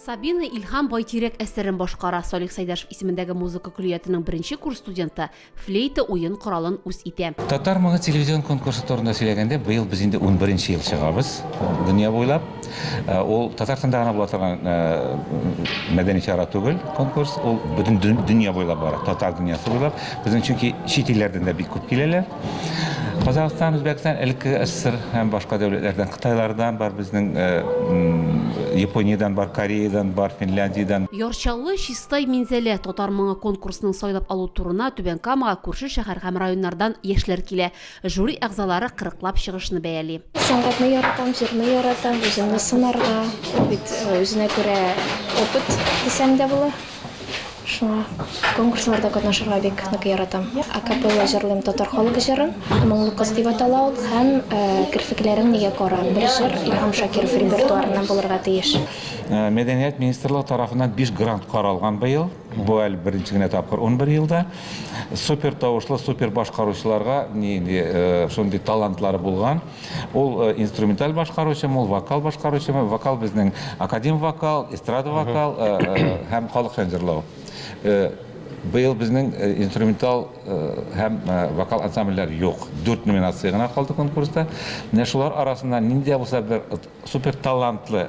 Сабина Илһам Байтирәк әсәрен башкара. Салих Сайдашев исемендәге музыка көллиятының беренче курс студенты флейта уен коралын үз итә. Татар моңы телевизион конкурсы турында сөйләгәндә, быел без инде 11 нче ел чыгабыз дөнья буйлап. Э, ул татарстанда гына була торган э, мәдәни чара түгел конкурс ул бөтен дөнья буйлап бара татар дөньясы буйлап безнең чөнки чит илләрдән дә бик күп киләләр Казахстан, Үзбәкстан, элекке СССР һәм башка дәүләтләрдән, Кытайлардан бар безнең, э, Япониядән бар, Кореядан бар, Финляндиядән. Ярчалы Чистай Минзәлә татар моңы конкурсының сайлап алу турына Түбән Камага күрше шәһәр һәм районнардан яшьләр килә. Жюри әгъзалары кырыклап чыгышны бәяли. Сәнгатьне яратам, җырны яратам, үземне сынарга, бит үзенә күрә опыт дисәң дә була. Шуңа конкурсларда катнашырга бик нык яратам. Акапелла җырлыйм татар халык җырын, Моңлы кыз дип атала ул, һәм Керфекләрең нигә кара? Бер җыр Илһам Шакиров репертуарыннан булырга тиеш. Мәдәният министрлыгы тарафыннан биш грант каралган быел. Бу әле беренче генә тапкыр унбер елда. Супер тавышлы, супер башкаручыларга нинди э, шундый талантлары булган. Ул э, инструменталь башкаручымы, ул вокал башкаручымы? Вокал безнең академ вокал, эстрада вокал э, һәм халык җан җырлау. Быел безнең инструментал һәм вокал ансамбльләр юк. Дүрт номинация гына калды конкурста. Менә шулар арасында нинди булса бер Супер талантлы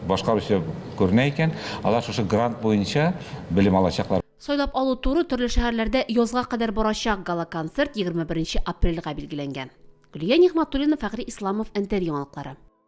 башкаручы күренә икән, алар шушы грант буенча белем алачаклар. Сайлап алу туры төрле шәһәрләрдә язга кадәр барачак гала-концерт егерме беренче апрельгә билгеләнгән. Гөлия Нигъмәтуллина, Фәгъри Исламов, Энтер яңалыклары.